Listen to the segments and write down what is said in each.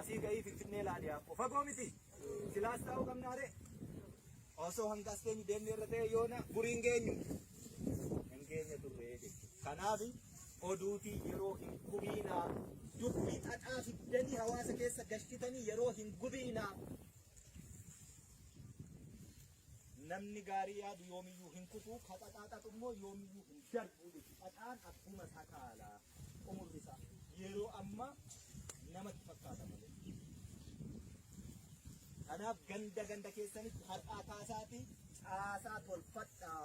Asii ka'ii Finfinnee laali akkoo fagoo miti. Silaas taa'uu qabnaa ree. Osoo hanga as keenyu deemne irra ta'e yoona gurii hin geenyu. Hin geenye turre jechuudha. Kanaaf oduutii yeroo hin gubiinaa dubbii xaxaa fiddanii hawaasa keessa gashitanii yeroo hin gubiinaa. Namni gaarii yaadu yoomiyyuu hin kufu, ka xaxaa xaxu immoo yoomiyyuu hin darbu jechuudha. Xaxaan akkuma takaala umurri isaa yeroo ammaa namatti fakkaata malee. Kanaaf ganda ganda keessanitti har'aa kaasaatii caasaa tolfadhaa.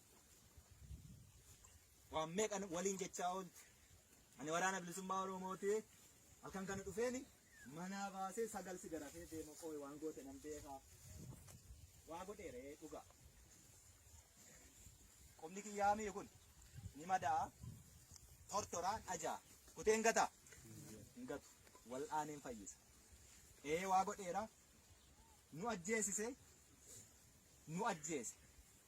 waan meeqan waliin jechaa ooltu ani waraana bilisummaa oromooti halkan kana dhufeeni manaa baasee sagal si garafee deema qooy waan goote nan beekaa waa godheeree dhugaa qubni kiyyaamii kun ni madaa tortoraa dhajaa kutee hin gataa hin gatu wal'aaneen fayyisa ee waa godheera nu ajjeesise nu ajjeese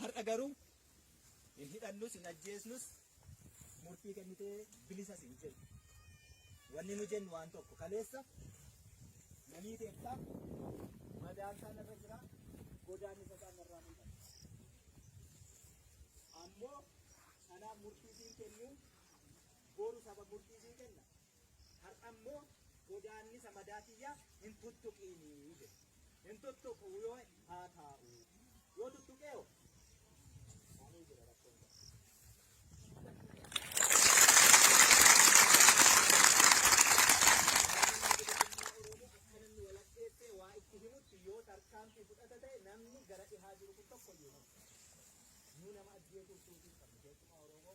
Har'a garuu hin hidhannus hin ajjeesnus murtii kennitee bilisas hin jennu. Wanni nu jennu waan tokko kaleessa namii teettaa madaan isaa narra jira godaan isa isaa narraa ni dhabe. Ammoo kanaaf murtii siin kennu boru saba murtii siin kenna. Har'a immoo godaannisa madaa kiyya hin tuttuqiini jedhe. Hin tuttuqu yoo haa taa'u. Yoo tuttuqee hoo? Maalii jira rakkoon kun? Akkananni walakkeessee waa itti himutti yoo tarkaanfii fudhata ta'e namni gara dhihaa jiru kun tokko iyyuu hin hafu. Nuu nama ajjeesuuf suutii hin qabnu keessumaa Oromoo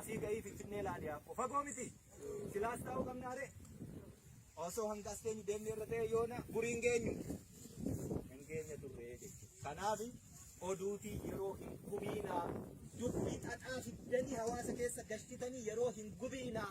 Asii ga'ii Finfinnee laali yaakko fagoo miti silaas taa'uu qabnaa ree osoo hanga as teenyu deemnee irra ta'e yoona gurii hin geenyu hin geenye turree jechuudha. Kanaaf oduutii yeroo hin gubiinaa dubbii xaxaa fiddanii hawaasa keessa gashtitanii yeroo hin gubiinaa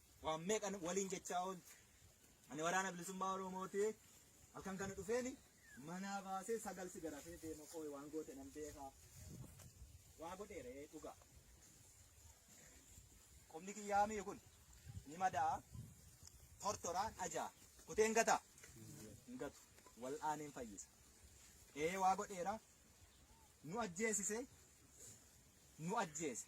Waan meeqan waliin jechaa oolti. Ani waraana bilisummaa Oromooti. Halkan kana dhufeeni manaa baasee sagal si garafee deema qooy waan goote nan beekaa. Waa godheeree dhugaa. Qubni kiyyaa mi'i kun ni madaa tortoraan ajaa kuteen gataa hin gatu wal aaneen fayyisa. Ee waa godheera nu ajjeesise nu ajjeese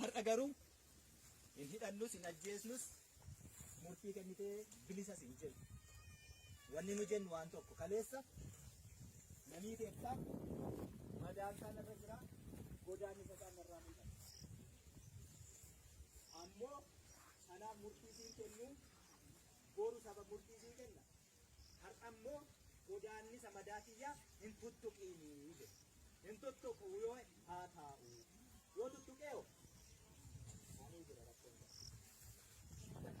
Har'a garuu hin hidhannus hin ajjeesnus murtii kennitee bilisas hin jennu. Wanni nu jennu waan tokko kaleessa namii keessaa madaan isaan irra jira godaan isa isaan irraa mul'ata. Ammoo kanaaf murtii siin kennu boru saba murtii siin kenna Har'a immoo godaannisa madaa kiyyaa hin tuttuqiini jedhe. Hin tuttuqu yoo haa taa'u. Yoo tuttuqee hoo? Ani jira rakkoon jira.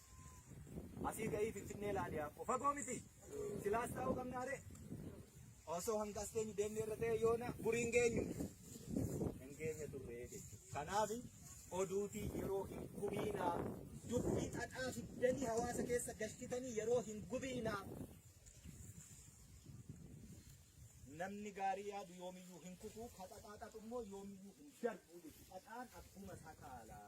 Asii ka'ii Finfinnee laali Yaakkoo. Fagoo miti. Silaas taa'uu qabnaa ree. Osoo hanga as teenyu deemnee irra ta'e yoona gurii hin geenyu. Hin geenye turre jechuudha. Kanaaf oduutii yeroo hin gubiinaa dubbii xaxaa fiddanii hawaasa keessa galchitanii yeroo hin gubiinaa. Namni gaarii yaadu yoomiyyuu hin kufu, ka xaxaa xaxu immoo yoomiyyuu hin darbu jechuudha. Xaxaan akkuma sakaalaa.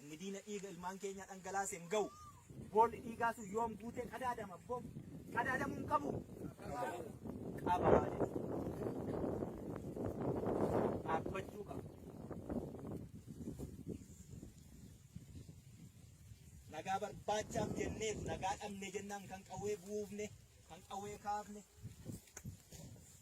Inni diina dhiiga ilmaan keenyaa dhangalaase hin ga'u. Boolli dhiigaa sun yoom guutee qadaadama? Bo qadaadamuu hin qabu. Qaba dhaabbachuu qaba. Nagaa barbaachaaf jenneef nagaa dhabne jennaan kan qawwee buufne kan qawwee kaafne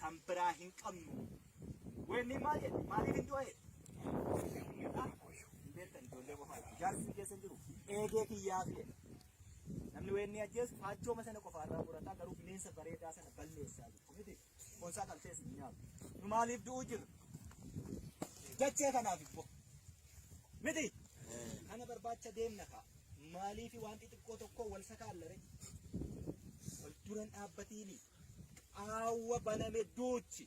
kan biraa hin qabnu. Weenni maal jedhe? Maaliif hin du'e? Hin beektan ijoollee qofaadha. Jaarsi hin keessa hin jiru. Eegee kiyyaa fi jedhe. Namni weenni ajjeesu faachooma sana qofa irraa murataa garuu bineensa bareedaa sana balleessaa jiru. Miti boonsaa kan ta'es hin nyaatu. Nu maaliif du'uu jirra? Dachee kanaaf immoo. Miti kana barbaacha deemna kaa. Maaliif waan xixiqqoo tokko wal sakaallare? Wal duran dhaabbatiini. Qaawwa baname duuchi.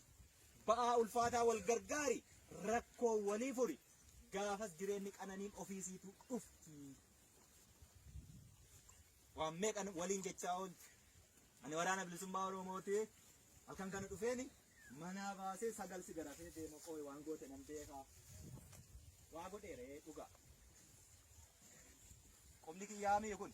Ba'aa ulfaataa wal gargaari, rakkoo walii furi. Gaafas jireenyi qananiin ofiisiitu dhufti. Waan meeqan waliin jechaa oolti. Ani waraana bilisummaa Oromooti. Halkan kana dhufeeni manaa baasee sagal si garafee deema qooy waan goote nan beekaa. Waa godheeree dhugaa. Qubni kiyyaa mi'i kun.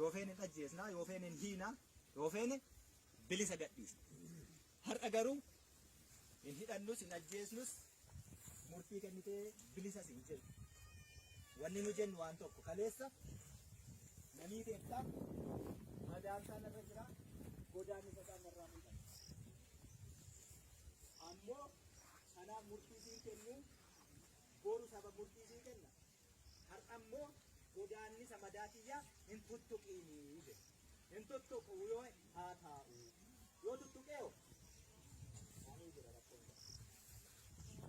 yoo feene hin ajjeesna yoo feene hin hiina yoo feene bilisa gadhiisna har'a garuu hin hidhannus hin ajjeesnus murtii kennitee bilisas hin jennu wanni nu jennu waan tokko kaleessa namii beektaa madaan isaa narra jira godaan isa isaa narraa mul'ata ammoo kanaaf murtii siin kennu boru saba murtii siin kenna Har'a immoo godaannisa madaa kiyyaa hin tuttuqiini jedhe. Hin tuttuqu yoo haa taa'u. Yoo tuttuqee hoo? Ani jira rakkoon isaa.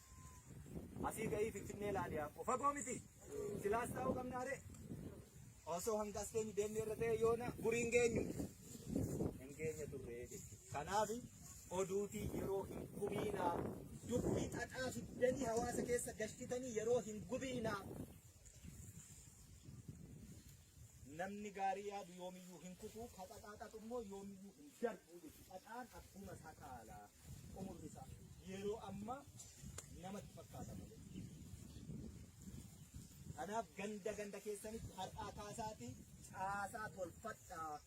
Asii ka'ii Finfinnee laali Aabboo. Fagoo miti. Silaas taa'uu qabnaa ree. Osoo hanga as teenyu deemnee irra ta'e yoona gurii hin geenyu. Hin geenye turre jechuudha. Kanaaf oduutii yeroo hin gubiinaa. Dubbii xaxaa fiddanii hawaasa keessa galchitanii yeroo hin gubiinaa. Namni gaarii yaadu yoomiyyuu hin kufu, ka xaxaa xaxu immoo yoomiyyuu hin darbu jechuudha. Xaxaan abbuma isaa kaala. Umurri isaa yeroo ammaa namatti fakkaata malee. Kanaaf ganda ganda keessanitti har'aa kaasaatii caasaa tolfadhaa.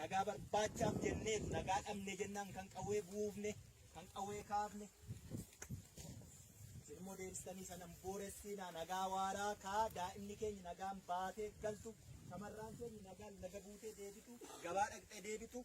Nagaa barbaachaaf jenneetu nagaa dhabne jennaan kan qawwee buufne, kan qawwee kaafne. Isin immoo deebistanii sanan booressinaa nagaa waaraa kaa daa'imni keenya nagaan baatee galtu, shamarraan keenya nagaan laga buutee deebitu, gabaa dhaqxee deebitu.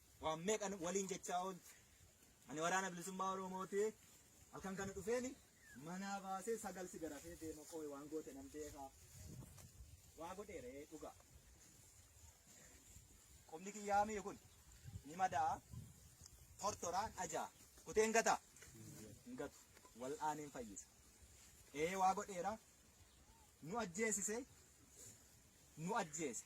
Waan meeqan waliin jechaa oolti. Ani waraana bilisummaa Oromooti. Halkan kana dhufeeni manaa baasee sagal si garafee deema qooy waan goote nan beekaa. Waa godheeree dhugaa. Qubni kiyyaa mi'i kun ni madaa tortoraan ajaa kutee hin gataa. Hin gatu. Wal'aaneen fayyisa. Ee waa godheera. Nu ajjeesise. Nu ajjeese.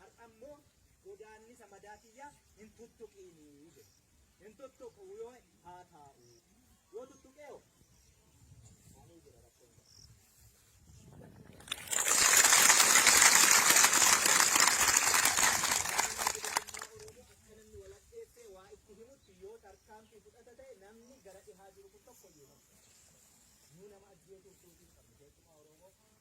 Har'a immoo godaannisa madaa kiyya hin tuttuqiini jedhe. Hin tuttuqu yoo haa taa'u. Yoo tuttuqee hoo? Ani jira rakkoon qabu. waa itti himutti yoo tarkaanfii fudhata ta'e namni gara dhihaa jiru kun tokko iyyuu nama nama ajjeesuuf suutii qabna keessumaa Oromoo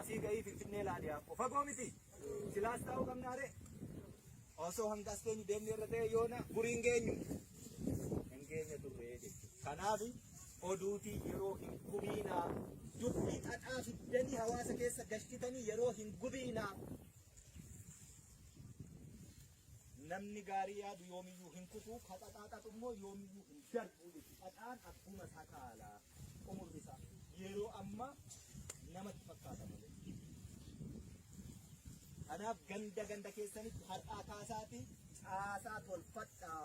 Asii ka'ii Finfinnee laali akkoo fagoo miti. Silaas taa'uu qabnaa ree. Osoo hanga as teenyu deemnee irra ta'e yoona gurii hin geenyu. Hin geenye turree jechuudha. Kanaaf oduutii yeroo hin gubiinaa dubbii xaxaa fiddanii hawaasa keessa galchitanii yeroo hin gubiinaa. Namni gaarii yaadu yoomiyyuu hin kufu, ka xaxaa xaxu immoo yoomiyyuu hin darbu jechuudha. Xaxaan abbuma isaa kaala. Umurri isaa yeroo ammaa namatti fakkaata malee. Kanaaf ganda ganda keessanitti har'aa kaasaatii caasaa tolfadhaa.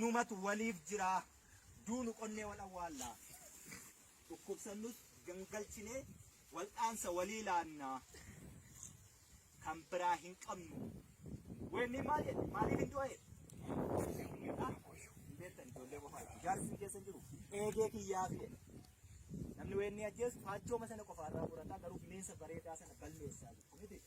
Numatu waliif jira. Duunu qonnee wal awwaalla. Dhukkubsannus gangalchinee wal'aansa walii laanna. Kan biraa hin qabnu. Weenni maal jedhe? Maaliif hin du'e? Hin beektan ijoollee qofaa. Jaarsi hin keessa hin jiru. Eegee kiyyaa fi jedhe. Namni weenni ajjeesu faachooma sana qofaarraa murataa garuu bineensa bareedaa sana balleessaa jiru. Miti.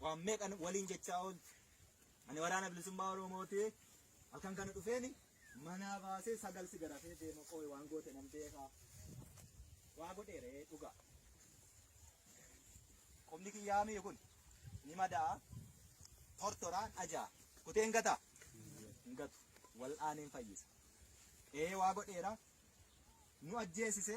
Waan meeqan waliin jechaa oolti. Ani waraana bilisummaa Oromooti. Halkan kana dhufeeni manaa baasee sagal si garafee deema qooy waan goote nan beekaa. Waa godheeree dhugaa. Qubni kiyyaa mi'i kun ni madaa tortoraan ajaa kutee hin gataa. Hin gatu. Wal'aaneen fayyisa. Ee waa godheera. Nu ajjeesise.